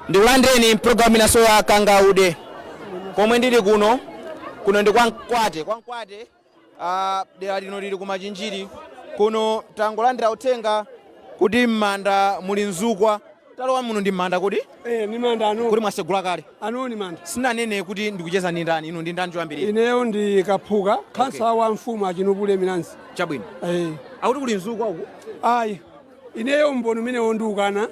Ndikulandireni mu pulogalamu inanso ya Kangaude pomwe ndili kuno. Kuno ndi kwa Mkwate, kwa Mkwate ah, dera lino lili ku Machinjiri. Kuno tangolandira uthenga kuti m'manda muli mzukwa. Talowa muno ndi m'manda kuti Eh, ni manda ano. kuti mwasegula kale. Ano ni manda. Sinanene kuti ndikucheza ndi ndani, inu ndi ndani choyambirira. Ineyo ndi Kaphuka khansala wa mfumu a Chinupule Milanzi. Chabwino. Eh. Akuti kuli mzukwa uku. Ayi. Ineyo umboni umenewo ndikukana,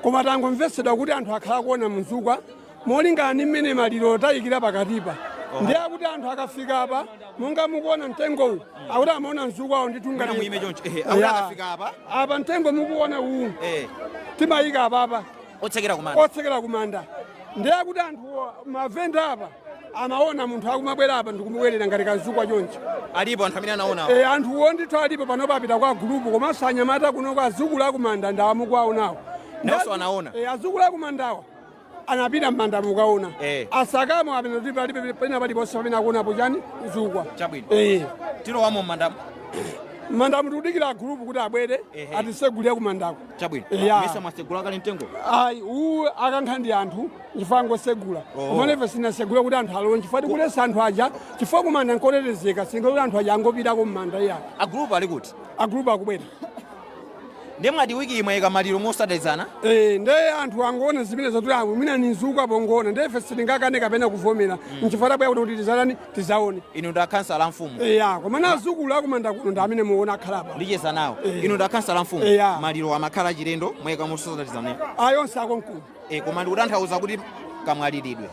koma tangomvesedwa kuti anthu akhala akuona mzukwa molingana ndi mmene maliro tayikira pakatipa ndiye akuti anthu akafika apa monga mukuona mtengowu akuti amaona mzukwawo nditu nga Mwina muime choncho. Ehe, akuti akafika apa. apa mtengo mukuona uwu Eh. timayika apapa otsekera kumanda otsekera kumanda ndiye kuti anthu mavenda apa amaona munthu akumabwera apa ndikumabwerera ngati kamzukwa choncho alipo anthu amene anaona e, anthuwo ndithu alipo pano papita kwa gulupu komanso anyamata kunoko adzukulu akumanda ndi awa mukuwaonawo nawonso anaona e, adzukulu akumandawa anapita mmandamu kukaona e. asakamo apeno pena paliponse pamene akuonapo chani mzukwa chabwino e. tilowamo mmandamu mmandamu tikudikira agulupu kuti abwere atisegulire kumandako chabwino Yeah. mesa mwasegula kale mtengo ayi uwu akankha ndi anthu chifukwa ngosegula koma ife sitinasegula kuti anthu alowe chifukwa tikuletsa anthu aja chifukwa kumanda nkotetezeka sikuti anthu aja angopitako mmanda iya agulupu ali kuti agulupu akubwera ndiye mwati wiki ino mwaika maliro motsatizana Eh, nde anthu akuona zimene zatulamu mwina ni mzukwa pongoona nde ife sitingakane kapena kuvomera nchifukwa tabwera kuti kuti tizanani tidzaone inu ndi akhansala a mfumu eya koma na adzukulu akumanda kuno ndi amene muona akhala apa ndicheza nawo Eh. inu ndi akhansala a mfumu Eya. maliro amakhala achilendo mwayika motsatizana ayonse akonkuno e koma ndikutanthauza kuti kamwaliridwe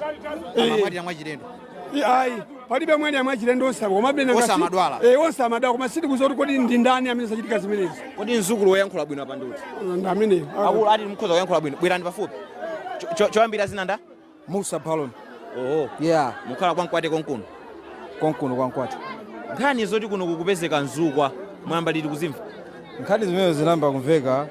Eh. amamwalira mwachilendo I- ayi palibe amene amwalira mwachilendo onse apo komabe nanga Onse si- amadwala. Eh, onse amadwala koma sitikudziwa kuti kodi ndi ndani amene zachitika zimenezi kodi mdzukulu woyankhula bwino apa ndiuti ndi ameneyo akuluwa ati mukhoza kuyankhula bwino bwerani pafupi Cho- cho- choyambira dzina nda Musa Balon. Oho. Yeah. Mukhala kwa Mkwate konkuno. Konkuno kwa Mkwate. Nkhani zoti kuno kukupezeka mzukwa mwayamba liti kuzimva? Nkhani zimenezi zinayamba kumveka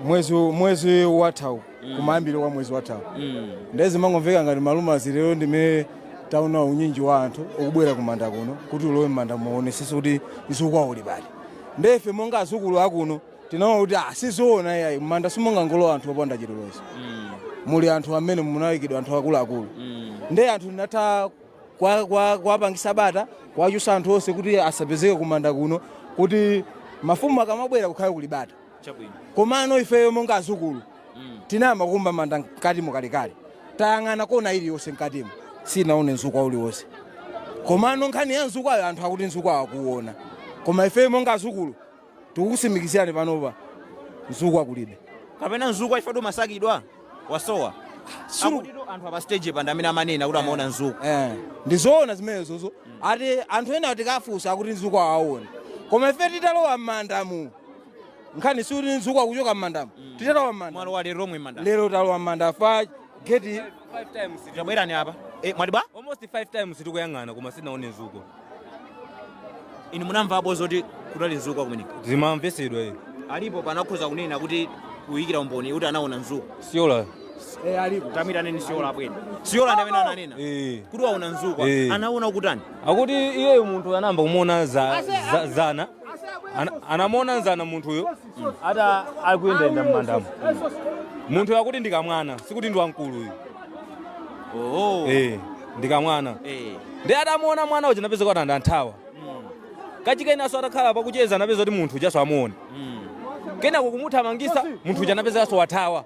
mwezi mwezi wathawu mm. kumayambiro kwa mwezi wathawu mm. ndiye zimangomveka ngati malumazi lero ndimene taona unyinji wa anthu ukubwera kumanda kuno kuti ulowe mmanda muonetsetse kuti mzukwa uli pati ndiye ife monga adzukulu akuno tinaona kuti ah, sizoona iyayi m'manda simongangolowa anthu opanda chilolezo muli anthu amene munayikidwa anthu akuluakulu nde anthu ndinatha kwa- kwa- kuwapangisa bata kuwachotsa anthu onse kuti asapezeke kumanda kuno kuti mafumu akamabwera kukhale kuli bata chabwino komano ifeyo monga adzukulu tinayamba kumba manda mkatimu kalekale tayang'ana kona iliyonse mkatimo sitinaone mzukwa uliwonse komano nkhani ya mzukwayo anthu akuti mzukwawo akuuona koma ifeyo monga adzukulu Tikukusimikizirani panopa mzukwa kulibe. kapena mzukwa ifetu masakidwa wasowa Sulu- akutitu anthu apa stage pa ndi amene amanena kuti amaona mzukwa Eh, ndizoona zimenezozo ati anthu ena tikafunsa akuti mzukwa awaona koma ife titalowa mmandamu nkhani sikuti mzukwa kuchoka mmandamu titalowa mmandamu mwalo wa lero lomwe manda lero talowa mmanda pa geti five times tili- tabwerani apa e, mwati bwa almost five times tikuyang'ana koma sinaone nzukwa inu munamvapo zoti kunali nzukwa kumeneko zimamvesedwa iyi alipo pano akhoza kunena kuti kuyikira umboni kuti anaona nzukwa siola tamuitaneni siola abwere siola ndi amene ananena Eh. kuti waona nzukwa Eh. anaona ukutani akuti iyeyo munthu anayamba kumuona za, za, zana Ana- anamuona zana munthuyo ati akuyendayenda m'mandamo munthuyo akuti ndi kamwana sikuti ndi wamkulu ayi oho Eh, ndi kamwana Eh. ndiye atamuona mwana uja anapeza kuti anathawa kachikenaso atakhala pakucheza anapeza kuti munthu ujaso amuona kenako kumuthamangisa munthu uja anapezekaso wathawa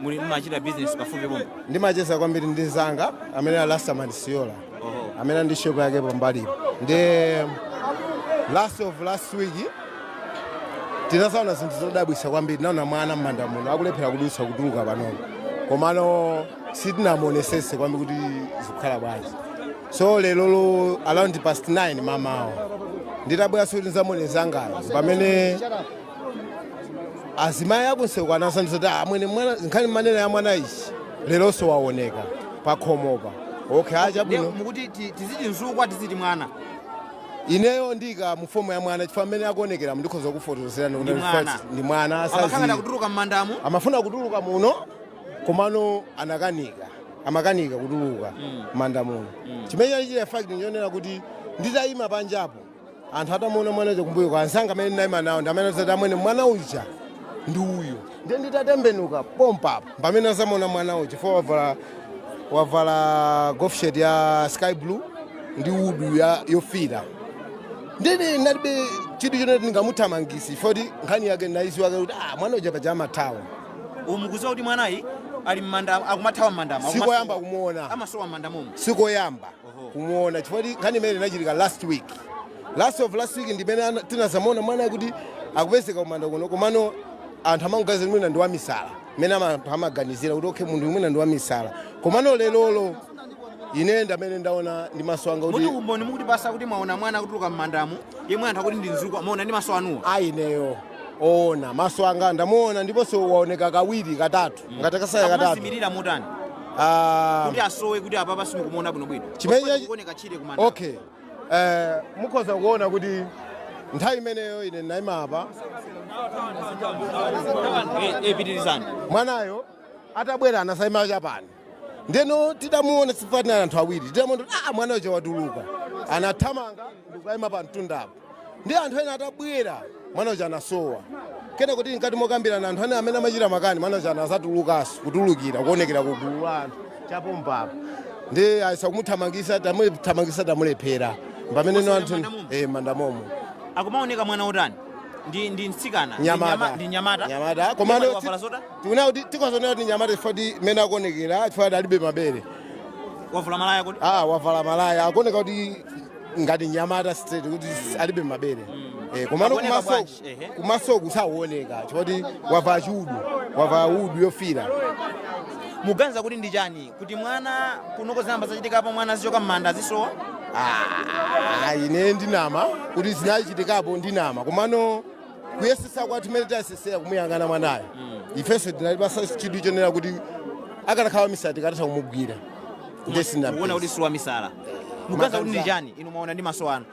muli mumachita business pafupi pomwe ndimacheza kwambiri ndi nzanga amene ali rastaman siola oho amene ndi shop yake pambalipo ndiye last of last week tinazaona zinthu zodabwisa kwambiri naona mwana m'manda muno akulephera kudutsa kutuluka panopo komano sitinamuonesese kwambiri kuti zikukhala bwanji so lerolo around past 9 mamawa nditabwera kuti nzamuone nzangayo pamene azimayi akunsewu anazandiuza kuti amwene mwana nkhani mmanena ya mwana ija leronso waoneka pakhomopa okay Ndiye achabwino mukuti ti- tiziti mzukwa tiziti mwana ineyo ndiika mu fomu ya mwana chifukwa amene akuonekeramo ndikhoza kufotokozerani kuti Ndi mwana. first ndi mwana amakhala asazi kutuluka m'mandamo amafuna kutuluka muno komano anakanika amakanika kutuluka mmanda muno chimene chali chili fact nchonena kuti nditayima panjapo anthu atamuona mwana uja kumbuyo kwa anzanga amene ndinayima nawo ndi amene azati amwene mwana uja ndi uyu ndiye nditatembenuka pompapo pamene azamuona mwana uja fo wavala wavala golf shirt ya sky blue ndi hood yofira ndiye ndinalibe chidwi choti ndingamuthamangise foti nkhani yake ndinayiziwa kuti ah, mwana uja paja amathawa mukuziwa kuti mwanayi ali mmanda akumathawa mmandamo sikoyamba kumuona amasowa mmanda momo sikoyamba kumuona chifoti nkhani imene inachitika last week last of last week ndimene ana- tinazamuona mwanayi kuti akupezeka kumanda kuno komano anthu amangoganiza mwina ndi wamisala mmene ama- anthu amaganizira kuti okay munthu mwina ndi wamisala komano lerolo ine ndamene ndaona ndi maso anga kuti kuti umboni mukuti basa kuti mwaona mwana akutuluka m'mandamo yemwe anthu akuti ndi mzukwa mwaona ndi maso anuwo ayi ineyo oona maso anga ndamuona ndiponso waoneka kawiri katatu ngati kasaya katatu Akumazimirira motani Ah, kuti asowe kuti apapa simukumuona bwinobwino Chimene- Chifukwa chikuoneka chire kumanda okay Eh, mukhoza kuona kuti nthawi imeneyo ine ndinayima apa Eh, eh, pitirizani mwanayo atabwera anasayima chapani ndeno tidamuona sife tinali anthu awiri tidamuona kuti ah mwanayo uja watuluka anathamanga ndikukayima pa mtundapo ndi anthu ena atabwera mwana uja anasowa kena kuti mkati mokambirana anthu ane amene amachita makani mwana uja anazatulukanso kutulukira kuonekera ku gulu la anthu chapompapa ndiye tayesa kumuthamangisa tamuthamangisa tamulephera pameneno anthu M'manda momo? eh m'manda momo akumaoneka mwana otani ndi ndi mtsikana Ndi nyama- nyamata ndi nyamata nyamata komano Nyamata wavala zotani tikuona kuti tikuzionera kuti nyamata chifukwa kuti mmene akuonekera chifukwa kuti alibe mabere wavula malaya kuti ah wavala malaya akuoneka kuti ngati nyamata straight kuti alibe mabere eh, komano Akuoneka kumaso bwanji? Ehe. kumasoku sawoneka chifukwa choti wavala chiudu wavala udu yofira muganiza kuti ndi chani kuti mwana kunoko zinayamba zachitikapo mwana azichoka m'manda azisowa Ah, ine ndinama kuti zinachitikapo ndinama komano kuyesetsa kwathu kumene tayesesera kumuyang'ana mwanayo ifenso tinalipasa chidwi choonera kuti akanakhala wamisala tikadatha kumugwira ndiye sina kuona kuti si wamisala muganiza kuti ndi chani inu mwaona ndi maso anu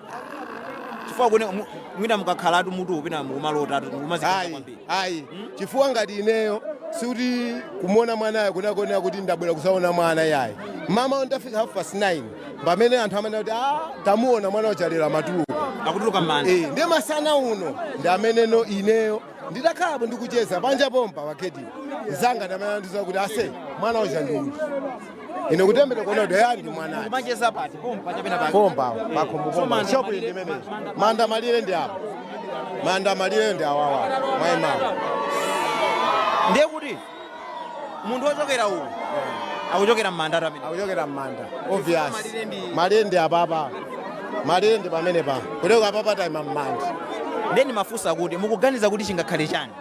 chifukwa kune mu- mwina mukakhalatu mutu ukupina mukumalotatu mukumazikira ayi kwambiri ayi chifukwa ngati ineyo sikuti kumuona mwanayo kunakonera kuti ndabwera kuzaona mwana yayi mama ndafika half past 9 pamene anthu amanena kuti a ah, tamuona mwana uja lero watuluka akutuluka m'manda eh, ndiye masana uno ndi ameneno ineyo nditakhalapo ndikucheza panja pompa ma cadet anzanga ndamene andiuza kuti ase mwana uja ndi uyu ine kutembenuka kuona kuti ayani ndi mwana ati macheza pati pompa chapena pati pompa pakhomo pompa shop ndi imene manda malire ndi apo manda malire ndi awawa mwaimawa ndiye kuti munthu wochokera uku akuchokera m'manda atu amene akuchokera m'manda obvious Malire ndi- malire ndi apapa malire ndi pamene pa kuteko apapa taima m'manda nde nimafunsa kuti mukuganiza kuti chingakhale chani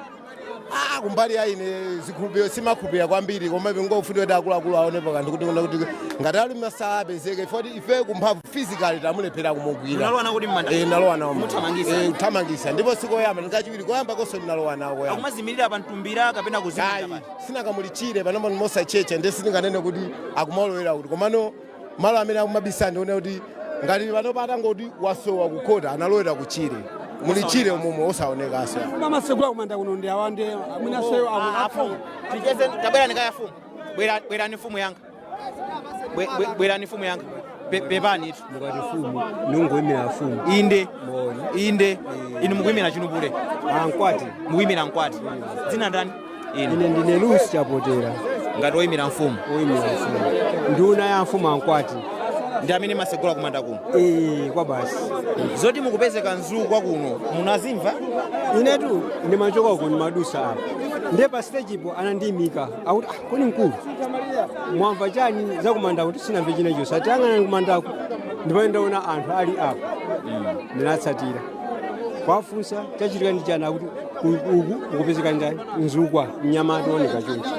Ah, kumbali ya ine zikhulupiriro simakhulupirira kwambiri koma nkofunika kuti akuluakulu aonepo kanthu kuti kuti ngati ali misala apezeke foti ife kumphamvu physically tamulephera kumugwira Munalowa nawo ku m'manda? eh nalowa nawo m'manda. Muthamangisa? Eh, kuthamangisa ndipo sikoyamba ndikachiwiri koyamba konso ndinalowa nawo koyamba akumazimirira pa mtumbira kapena kuzimira ayi pati sinanga muli tchire panopa ndi mosatchetcha ndiye sindinganene kuti akumalowera kuti komano malo amene akumabisala ndione kuti ngati panopa atangoti wasowa kukhota analowera kutchire muli tchire umumo osaonekanso amasegula kumanda kuno ndi andani amene aseyo afumu ticheze tabwerani kaye afumu Bwera- bwerani fumu yanga Bwe- bwe- bwerani mfumu yanga Pe- pepanitu mukati mfumu ndingoyimira mfumu inde moni inde inu mukuyimira chinubule amkwati mukuyimira mkwati dzina ndani ine ine ndine lusi chapotera ngati oyimira mfumu oyimira mfumu nduna ya mfumu amkwati ndi amene amasegula kumanda kuno ee chabe basi zoti mukupezeka mzukwa kuno munazimva inetu ndimachoka uko ndimadusa apa ndiye pa stage ipo anandiyimika akuti "Ah, kodi mkulu mwamva chani zakumandaku ndati sinamve chilichonse atiyang'ana kumandako ndipo ndaona anthu ali apo ndinatsatira kuwafunsa chachitika ndi chani akuti "Uku- uku ukupezeka ndani mzukwa mnyamata ooneka chonchi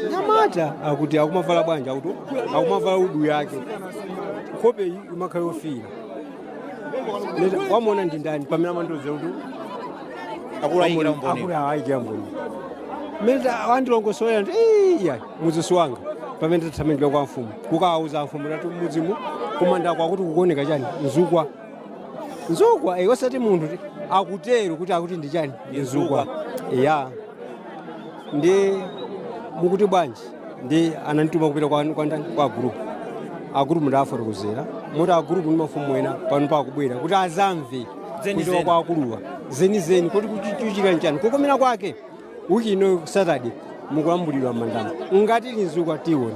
mnyamata akuti akumavala bwanji akuti akumavala hudu yake nkhope iyi imakhala yofira Leta, wamuona ndi ndani amene amandiuza kuti akulu aikira umboni akulu aikira umboni mmene wandilongosolera ndi iye mudzisi wanga pamene tathamangira kwa mfumu kukawauza mfumu tati mfumu kumandako akuti kukuoneka chani mzukwa mzukwa eh, osati munthu ti- akutero kuti akuti ndi chani ndi mzukwa ya ndi mukuti bwanji ndi anandituma kupita kwa kwa ndani kwa agulupu agulupu ndawafotokozera moti agulupu ndi mafumu ena pano akubwera kuti azamve Zeni kuchoka zeni. kwa akuluwa zenizeni kuti kukuchitika nchani kukomera kwake wiki ino saturday mukulambulidwa m'mandamo ngati muli mzukwa tiona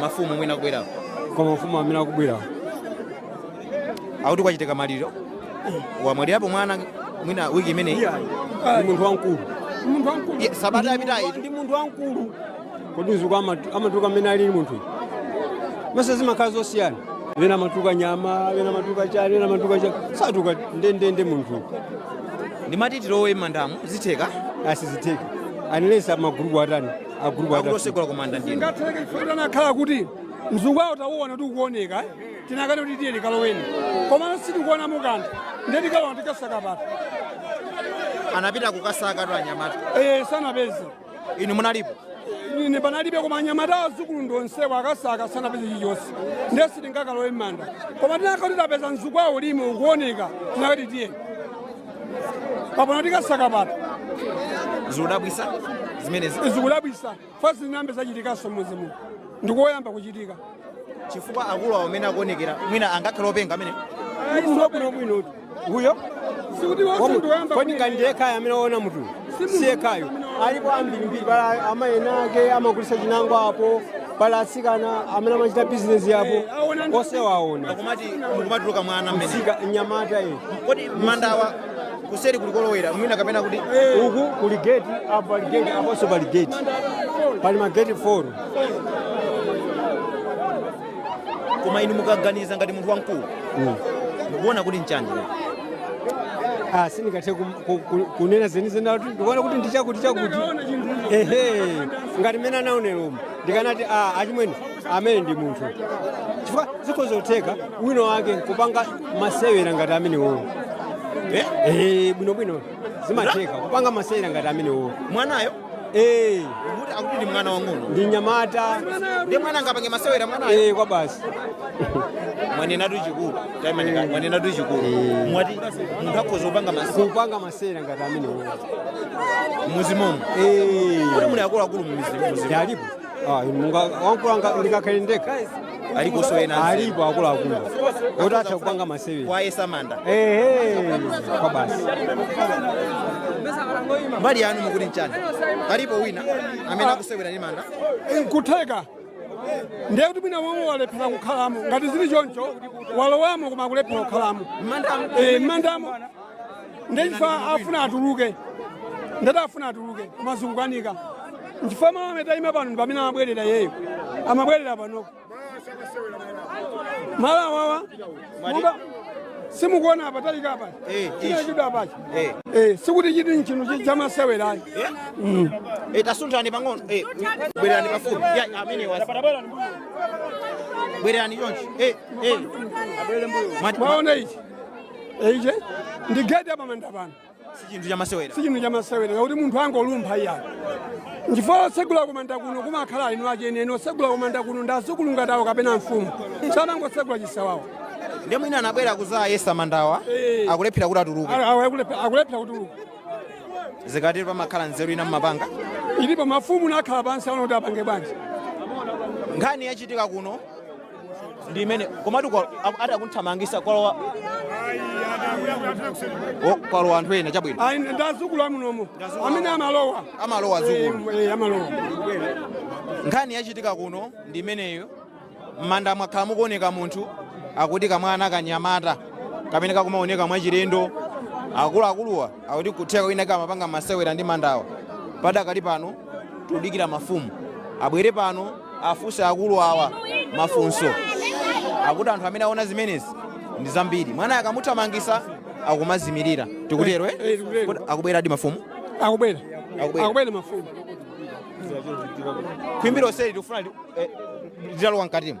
mafumu mwina kubwerako koma mafumu amene akubwera akuti kwachitika maliro wamwalirapo mwana mwina wiki imeneyi ndi munthu wamkulu munthu wamkulu Ye, sabata yapitayi Ndi- ndi munthu wamkulu kodi mzukwa amatu- amatuka mmene alili munthu mesa zimakhala zosiyana ena amatuka nyama ena amatuka chani ena amatuka chani satuka ndendende munthu ndimati tilowe m'mandamo zitheka asizitheke unless agulupu atani agulupu ake akutosegula kumanda ndiye ngatheke chifukwa tinakakhala kuti mzukwawo tauona kuti ukuoneka eh? tinakati kuti tiye tikaloweni komano sitikuona muli kanthu ndiye tikalowa tikasaka pati anapita kukasaka tu anyamata Eh, sanapeze inu munalipo ine panalibe koma anyamata azukulu ndi onsewo akasaka sanapeze chilichonse ndiye sitingakalowe m'manda koma tinakati tapeza mzukwawo ulimo ukuoneka tinakati tiye papano tikasaka pati zikudabwisa zimenezi zikudabwisa chifukwa zinayambe zachitikanso m'mudzi muno ndikoyamba kuchitika chifukwa akulu awo amene akuonekera mwina angakhale openga amene munthu wabwinobwinotu uyo sikuti wose ndikoyamba kodi ngati ndi yekhayo amene waona munthu si yekhayo alipo ambirimbiri pali amayi enaake amagulisa chinangwa apo pali atsikana amene amachita bizinesi yapo osewaona akumati mukumatuluka mwana mmene si kanyamata iyi kodi mandawa kuseri kulikolowera mwina kapena kuti uku kuli geti apo pali geti aponso pali geti pali mageti 4 koma inu mukaganiza ngati munthu wamkulu mukuona kuti nchani Ah, sindingathe kum- ku- ku- kunena zenizeni kuti ndikuona kuti ndichakuti chakuti ehe ngati mmene anaonera umo ndikanati a achimwene amene ndi munthu chifukwa zikhoza kutheka wina wake kupanga masewera ngati amenewo Eh? Eh, bwinobwino zimatheka kupanga masewera ngati amenewo mwanayo Eh, kuti akuti ndi mwana wang'ono ndi nyamata ndi mwana angapange masewera mwanayo Eh, kaya basi mwanenatu chikulu taimani mwanenatu chikulu mwati munthu akhoza kupanga masewera kupanga sera ngati amenewo m'mizimumo kuti muli akuluakulu mumizimo alipo Ah, monga wankulu anga- ndikakhale ndekha aliponso ena alipo akuluakulu oti atha kupanga masewera kuyesa manda ehe kaya basi mbali yanu mukuti nchani alipo wina amene akusewera ndi manda nkutheka ndiye kuti mwina momwe walephera kukhalamo ngati zili choncho walowamo koma kulephera kukhalamo M'mandamo. Eh, m'mandamo nde chifukwa afuna atuluke ndati afuna atuluke koma zikukanika nchifukwa malo amene tayima pano ndi pamene amabwerera iyeyo amabwerera panoko malo awawa monga simukuona apatalika apa Eh, chinachidwa apachi Eh. Eh, sikuti chiti nchinthu chamasewera ayi Eh, tasunthani pang'ono Eh, bwererani pafupi Ya, amene wasi bwererani chonchi Eh, eh. Mwati- mwaona ichi ichi ndi geti yapamanda pano si chinthu chamasewera si chinthu chamasewera kuti munthu angolumpha iyayi nchifukwa otsegula kumanda kuno kumakhala eni ache enieni otsegula kumanda kuno ndi azukulu ngati awo kapena mfumu samangotsegula chisawawa ndiye mwina anabwera kuzayesa mandawa Eh. akulephera kuti atuluke Awa- awa akulephe- akulephera kutuluka zikatero pamakhala nzeru ina mmapanga ilipo mafumu amakhala pansi aona kuti apange bwanji nkhani yachitika kuno ndi imene komatu kwa- aku- ati akunthamangisa kwalowa o- kwalowa anthu ena chabwino ayi ndazukulu amunomo amene amalowa amalowa azukulu Eh, eh, amalowa nkhani yachitika kuno ndi imeneyo m'manda mwakhala mukuoneka munthu akuti kamwana kanyamata kamene kakumaoneka mwachilendo akuluakuluwa akuti kutheka mwina kamapanga masewera ndi mandawa padakali pano tikudikira mafumu abwere pano afunse akulu awa mafunso akuti anthu amene aona zimenezi ndi zambiri mwanayi akamuthamangitsa akumazimirira tikutero eh? Eh, tikutero. Kodi akubweradi mafumu akubwera Akubwera. akubwera mafumu khwimbi lonseli tikufuna li- eh, litalowa mkatimo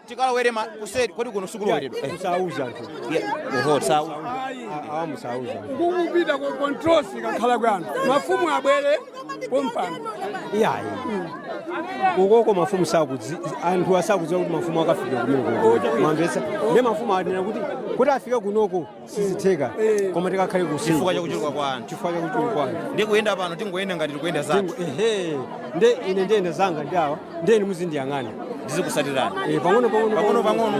tikalowere ma- kuseri kodi kuno sikuloweredwa Eh, Sauza tu. yeah. oho sawa Awa musauza. kukupita ku control si kakhala kwanu mafumu abwere pompano Iyayi. Ukoko mafumu sakudzi anthu asakudziwa kuti mafumu akafika kuno kuno. Mwamvetsa. Ndi mafumu ayenera kuti kuti afike kunoko sizitheka koma tikakhale kuseri chifukwa chakuchuluka kwa anthu chifukwa chakuchuluka kwa anthu ndi kuyenda pano tingoyenda ngati tikuyenda zathu ehe nde ine ndiyenda zanga ndi awa ndiye inu muzindiyang'ana ndizikusatirani Eh, pang'ono pang'ono Pang'ono pang'ono.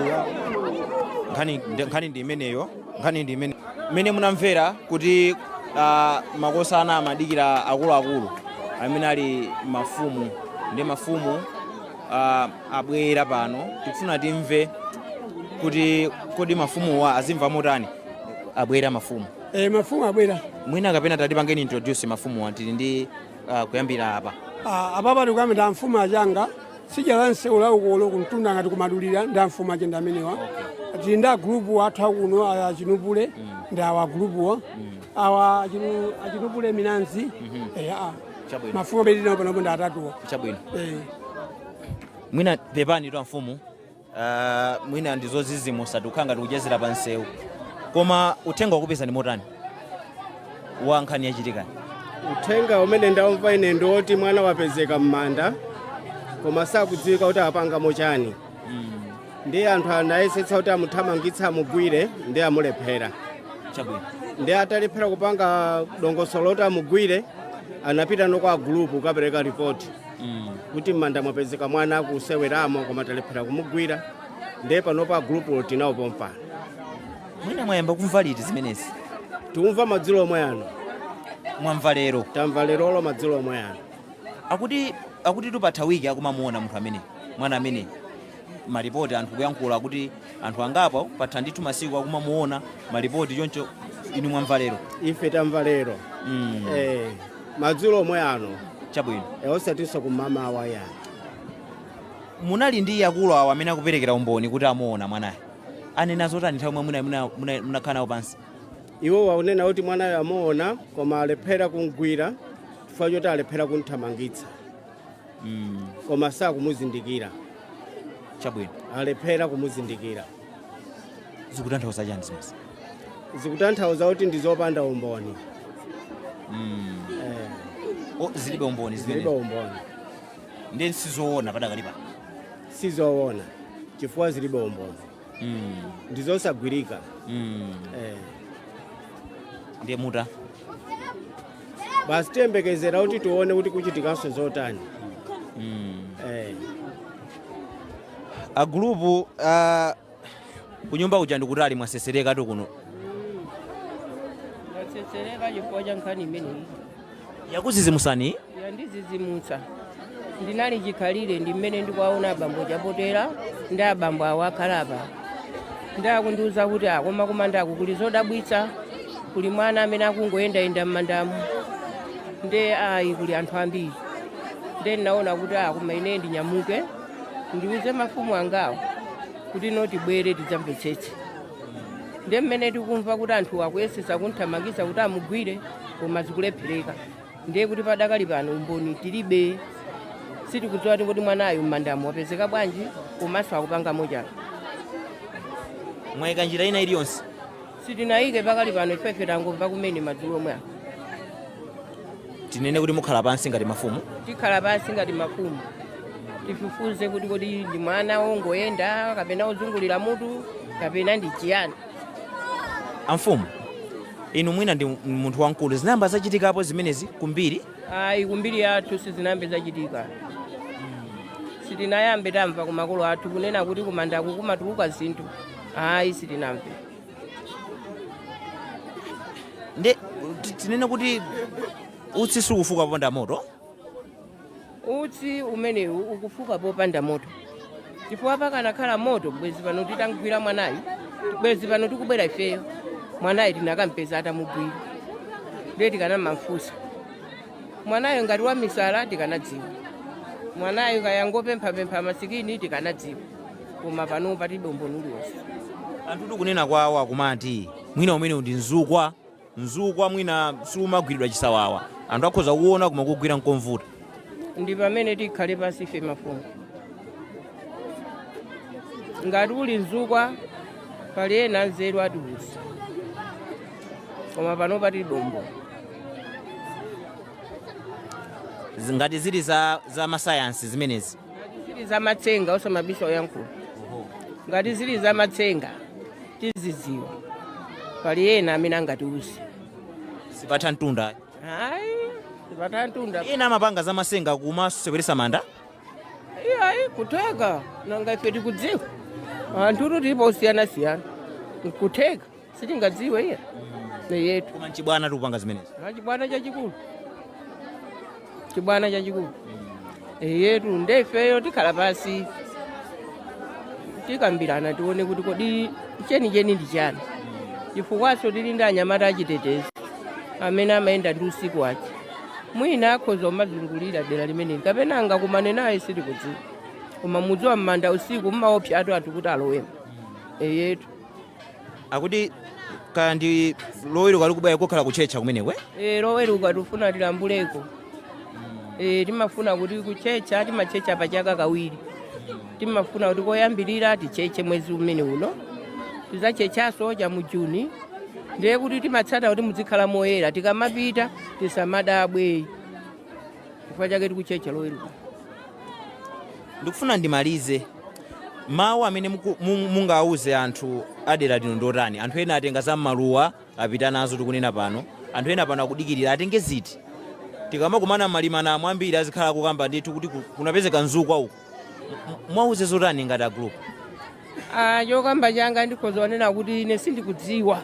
nkhani ndi- nkhani ndi imeneyo nkhani ndi imene mmene munamvera kuti ah, makosana amadikira akuluakulu amene ali mafumu ndi mafumu ah, abwera pano tikufuna timve kuti kodi mafumuwa azimva motani abwera mafumu e, mafumu abwera mwina kapena tatipangeni introduce mafumuwa tili ndi uh, kuyambira apa Ah, apapa tikuyamba ndi amfumu a Changa tsidya la msewu la ukolo kumtunda ngati ku Madulira ndi amfumu ache ndi amenewa tili ndi agulupu athu akuno a- a Chinupule ndi awa agulupuwa awa a Chinu- a Chinupule Minanzi Eh, ah. Chabwino. mafumu abwera panopo ndi atatuwa chabwino Eh. mwina pepanitu amfumu ah, mwina ndizodzidzimutsa tikukhala ngati kuchezera pa msewu koma uthenga wakupezani motani wa nkhani yachitikayi uthenga umene ndaumva ine ndi woti mwana wapezeka m'manda koma sakudziwika kuti akupangamo chiyani ndiye anthu anayesetsa kuti amuthamangitse amugwire ndiye amulephera chabwino ndiye atalephera kupanga dongosolo loti amugwire anapitano kwa agulupu kukapereka ripoti kuti m'manda mwapezeka mwana akuseweramo koma talephera kumugwira ndiye panopa agulupuwo tili nawo pompano mwina mwayamba kumva liti zimenezi tikumva madzulo omwe ano mwamva lero tamva lerolo madzulo omwe ano akuti akuti ikupatha wiki akumamuona munthu ameneyi mwana ameneyi malipoti anthu kuyankhula akuti anthu angapo papita ndithu masiku akumamuona malipoti choncho inu mwamva lero ife tamva lero mm. eh. madzulo omwe ano chabwino e, osatinso kum'mawa ayi munali ndi akulu awo amene akuperekera umboni kuti amuona mwanayo anena zotani nthawi yomwe muna- muna- muna- munakhala nawo pansi iwowa akunena kuti mwanayo amuona koma alephera kumgwira chifukwa choti alephera kumthamangitsa mm. koma sakumuzindikira chabwino alephera kumuzindikira zikutanthauza chani zimenezi zikutanthauza kuti ndi zopanda umboni mm. eh, O, zilibe umboni zilibe zimenezi umboni ndiye sizoona padakali pano sizoona chifukwa zilibe umboni mm. ndizosagwirika mm. eh. ndiye muta basi tiyembekezera kuti tione kuti kuchitikanso zotani mm. eh. a gulupu uh, kunyumba kuja ndikutali mwatsetserekatu kuno mwatsetsereka chifukwa cha nkhani imeneyi. yakudzidzimutsani iyi yandidzidzimutsa ndinali chikhalire ndi mmene ndikuwaona abambo chapotera ndi abambo awo akhala apa nde akundiuza kuti akoma kumandaku kuli zodabwitsa kuli mwana amene akungoyendayenda m'mandamu nde ayi kuli anthu ambiri nde ndinaona kuti akoma ine ndinyamuke ndiuze mafumu angawo kuti no tibwere tidzamvetsetse ndiye mmene tikumva kuti anthu akuyesetsa kumthamangitsa kuti amugwire koma zikulephereka ndiye kuti padakali pano umboni tilibe sitikudziwa kuti mwanayu m'mandamu wapezeka bwanji komanso akupangamo chani mwayika njira ina iliyonse sitinayike pakali pano ifefe tangomva kumene madzulo omwe apo tinene kuti mukhala pansi ngati mafumu tikhala pansi ngati mafumu tifufuze kuti kodi ndi mwana wongoyenda kapena wozungulira mutu kapena ndi chiyani amfumu inu mwina ndi munthu wamkulu zinayamba zachitikapo zimenezi kumbiri ayi kumbiri yathu sizinayambe zachitika sitinayambe tamva kumakolo athu kunena kuti kumandaku kumatuluka zinthu ayi sitinamve nde ti- tinene kuti utsi sukufuka popanda moto utsi umenewu ukufuka popanda moto chifukwa pakanakhala moto bwezi pano titamgwira mwanayu bwezi pano tikubwera ifeyo mwanayu tinakampeza atamugwira ndiye tikanamamfunsa mwanayo ngati wamisala tikanadziwa mwanayo kaya angopemphapempha masikini tikanadziwa koma pano palibe umboni uliwonse anthu tikunena kwawo akumati mwina umenewu ndi mzukwa mzukwa mwina siumagwiridwa chisawawa anthu akhoza kuona koma kugwira nkovuta ndi pamene tikhale pansi ife mafumu ngati uli mzukwa pali ena anzeru atiuza koma pano pali dombo ngati zili za, za masayansi zimenezi ngati zili za matsenga osamabisa oyankhulu ngati zili za matsenga tizidziwa pali ena amene angatiuze zipatha mtunda ayi zipatha mtunda ena amapanga za matsenga kumaseweresa manda iyayi nkutheka nanga ife tikudziwa anthu tilipo osiyanasiyana nkutheka sitingadziwe iye yetu koma mchibwana akupanga zimenezi ndi chibwana chachikulu chibwana chachikulu eyetu nde ifeyo tikhala pasi tikambirana tione kuti kodi chenicheni ndi chiyani chifukwaso tili ndi anyamata achitetezi amene amayenda ndi usiku wace mwina akhoza umazungulira dera limeneli kapena angakumane naye sitikudziwa koma mudziwa m'manda usiku mmaopsatu anthu kuti alowemo eyetu akuti kaya ndi loweruka likubwerali kukhala kutchetcha kumeneko eh? Eh, loweruka tifuna tilambuleko Eh, timafuna kuti kutchetcha timatchetcha pa chaka kawiri timafuna kuti koyambirira titchetche mwezi umene uno tizatchetchaso cha mu juni ndiye kuti timasata kuti muzikhala moyera tikamapita tisamadabwe chifukwa chake tikutchetcha loweruka ndikufuna ndimalize Mawu amene muku- mu- mungawauze anthu a dera lino ndiotani? Anthu ena atenga za m'maluwa apita nazo tikunena pano, anthu ena pano akudikirira atenge ziti? Tikamakumana m'malimanamo ambiri azikhala kukamba ndithu kuti ku- kunapezeka mzukwa uku. M- Mwauze zotani ngati a gulupu? Ah, chokamba changa ndikhoza kunena kuti ine sindikudziwa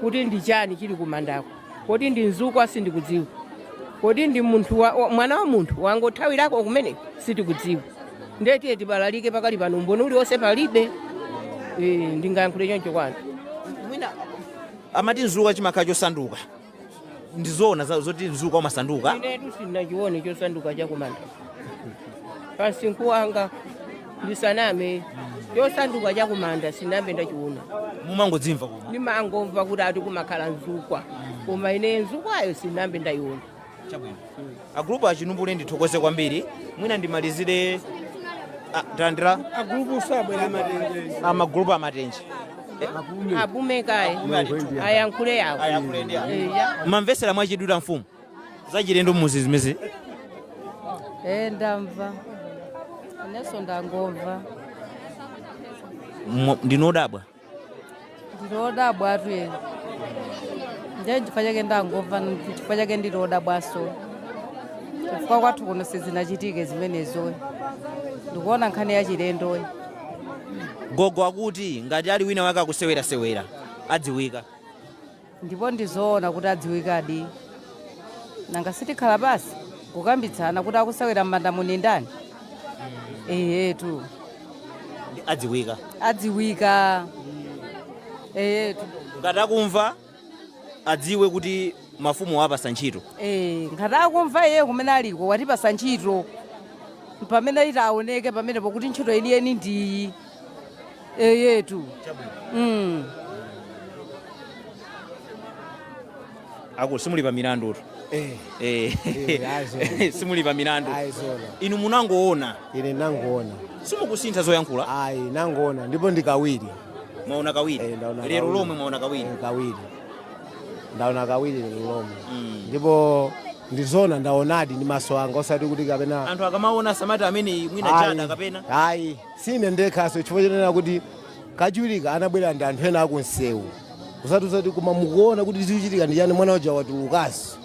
kuti ndi chiyani chili kumandako kodi ndi mzukwa sindikudziwa kodi ndi munthu wa, wa, mwana wa munthu wangothawirako kumene sitikudziwa ndiye tiye tibalalike pakali pano umboni uliwonse palibe e, ndingayankhule choncho kwanu anthu amati mzukwa chimakhala chosanduka ndi zoona za- zoti mzukwa umasanduka inetu sindinachione chosanduka chakumanda pa msinkhu wanga ndisaname chosanduka chakumanda sinambe ndachiona mumangodzimva koma ndimangomva kuti ati kumakhala mzukwa koma ine mzukwayo sinambe ndayiona chabwino agulupu achinumbule ndithokoze kwambiri mwina ndimalizire ah, landirani agulupu sabwera amatenje amagulupu amatenje apume kaye Mwengo ndiye. ayankhule yawo Ayankhule ndiye. Eya. mumamvesera mwachidwi a mfumu zachilendo mmuzi zimenezi Eh, ndamva inenso ndangomva Mwa- ndinu odabwa ndili odabwatu ine ndiye chifukwa chake ndangomva chifukwa chake ndili odabwaso chifukwa kwathu kuno sizinachitike zimenezo ndikuona nkhani yachilendo gogo akuti ngati ali wina wake akusewerasewera adziwika ndipo ndi zoona kuti adziwikadi nanga sitikhala pansi kukambitsana kuti akusewera m'manda muni ndani eyetu Ndi adziwika adziwika eyetu ngati akumva adziwe kuti mafumu wawapatsa ntchito Eh, ngati akumva iye kumene aliko watipatsa ntchito pamene itaoneke pamenepo kuti ntchito yeniyeni ndiyi eyetu mm. akulu simuli pa milandu tu Eh, Eh, Eh, azoona. simuli pa milandu inu munangoona ine nangoona simukusintha zoyankhula ayi nangoona ndipo ndi kawiri mwaona Eh, kawiri ndaona lero kawiri. lomwe mwaona kawiri Eh, kawiri ndaona kawiri lero lomwe Mm. ndipo ndi zoona ndaonadi ndi maso anga osati kuti kapena anthu akamaona samati amene mwina Ayi, tchada kapena ayi Si ine ndekhanso chifukwa chonena kuti kachiwirika anabwera ndi anthu ena akunsewu kuzatiuza kuti koma mukuona kuti zikuchitika ndi chani mwana uja watulukanso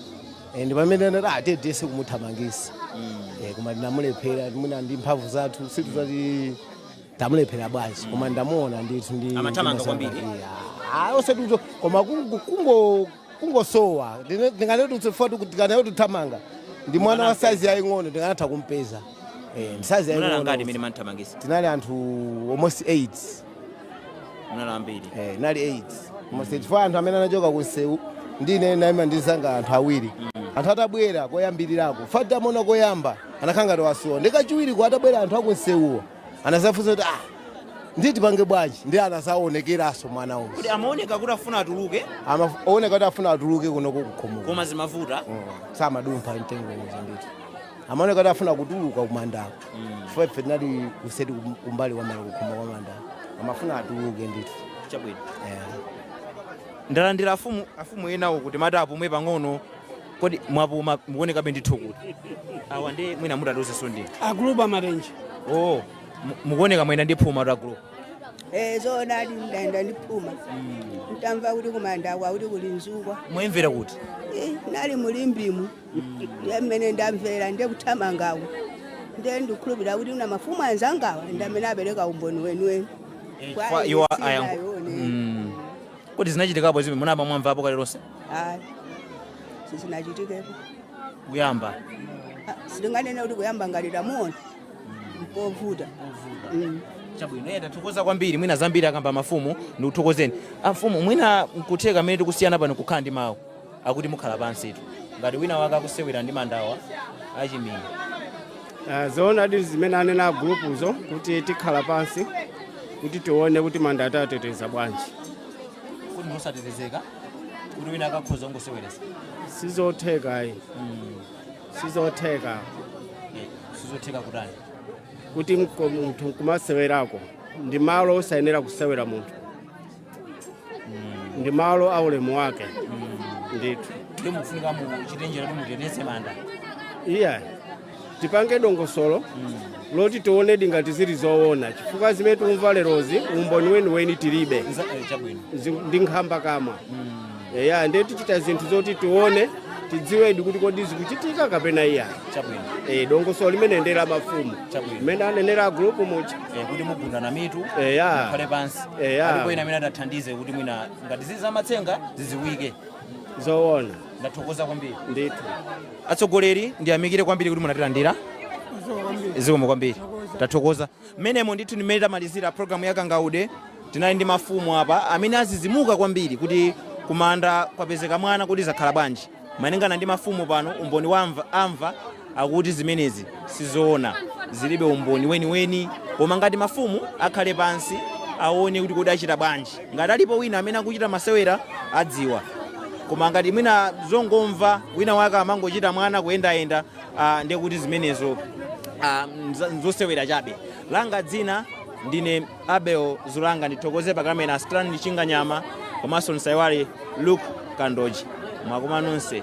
Eh, ndi pamene tinati tiyese kumuthamangisa Eh, koma tinamulephera mwina ndi mphamvu zathu sitidziwa kuti tamulephera bwanji koma ndamuona ndithu ndi Amathamanga ndi kwambiri. masamba. Eh, ah, osati uzo koma kungo- kungo kungosowa ndinganene kuti chifukwa tikanayothamanga ndi mwana wa saizi yaying'ono tikanatha kumpeza Eh, ndi saizi munali angati yaying'ono imene mumamuthamangisa tinali anthu almost 8 munali ambiri eh, tinali 8 almost 8 chifukwa anthu amene anachoka kunsewu ndi ine ndinaima ndi azanga anthu awiri anthu atabwera koyambirirako chifukwa titamuona koyamba anakhala ngati wasowa ndiye kachiwiriko atabwera anthu akunsewuwo anazafunsa kuti ah ndiye tipange bwanji ndiye anazaonekeranso mwana uyu kuti amaoneka kuti afuna atuluke amaoneka kuti afuna atuluke kunoku kukhomo koma zimavuta mm. samadumpha mtengo uja ndithu amaoneka kuti afuna kutuluka kumandako mm. chifukwa ife tinali kuseri kumbali kwamala kukhomo kwa mandako amafuna atuluke ndithu chabwino yeah. ndalandira afumu afumu enawo kuti timati apumwe pang'ono Kodi mwapuma mukuonekabe ndithu kuti awa ndi mwina mutiuzenso ndi. A gulupu a Matenje. Oh, mu- mukuoneka mwayenda ndi phuma tu a group. Eh, zoonadi ndayenda ndi phuma ntamva kuti kumanda kwakuti kuli nzukwa Mwayimvera kuti? Eh, nali mu Limbemu ndiye mmene ndamvera ndiye kuthamangako ndiye ndikhulupirira kuti una mafumu anzangawa ndi amene apereka umboni weniweni Eh, Kwa kwa iwo Ernestine ayangu- Ayoni. Mm. kodi zinachitikapo zimene munayamba mwamvapo kale lonse hayi sizinachitikepo kuyamba Ah, sitinganene kuti kuyamba ngati tamuona mpovuta Mm. chabwino eya tikuthokoza kwambiri mwina zambiri akamba mafumu ndikuthokozeni amfumu mwina nkutheka mmene tikusiyana pano kukhala ndi mawu akuti mukhala pansitu ngati wina wake akusewera ndi mandawa achimwene Ah, zoonadi zimene anena agulupuzo kuti tikhala pansi kuti tione kuti mandawa titeteza bwanji kodi ndi osatetezeka kuti wina wake akhoza ungoseweresa sizotheka ayi sizotheka sizotheka kutani kuti mko- munthu kumasewerako ndi malo osayenera kusewera munthu ndi malo a ulemu wake ndithu ndiye mukufunika muchite njira kuti muteteze manda iya tipange dongosolo loti tionedi ngati zili zoona chifukwa zimene tikumva lerozi umboni weniweni tilibe Nza- eh, chabwino Zi- ndi nkhambakamwa eya ndiye tichita zinthu zoti tione tidziwedi kuti kodi zikuchitika kapena iya chabwino e, dongosolo limeneli ndi la mafumu Chabwino. mmene anenera agulupu muja Eh, kuti mugundana mitu Eya. mukhale pansi Eya. alipo ina amene adzathandize kuti mwina ngati zili zamatsenga ziziwike zoona ndathokoza kwambiri ndithu atsogoleri ndiyamikire kwambiri kuti munatilandira zikomo kwambiri tathokoza Mmenemo ndithu ndi mmene tamalizira program ya Kangaude. Tinali ndi mafumu apa amene azizimuka kwambiri kuti kumanda kwapezeka mwana kuti zakhala bwanji. Malingana ndi mafumu pano umboni mwaumva akuti zimenezi sizoona. Zilibe umboni weniweni koma ngati mafumu akhale pansi aone kuti kodi achita bwanji. Ngati alipo wina amene akuchita masewera adziwa. Koma ngati mwina zongomva wina wake amangochita mwana kuyendayenda Ah, ndiye kuti zimenezo ah, mza- nzosewera chabe langa dzina ndine Abel Zulanga ndithokoze pakamera Strand Chinganyama komanso osaiwala Luke Kandoji mwakoma nonse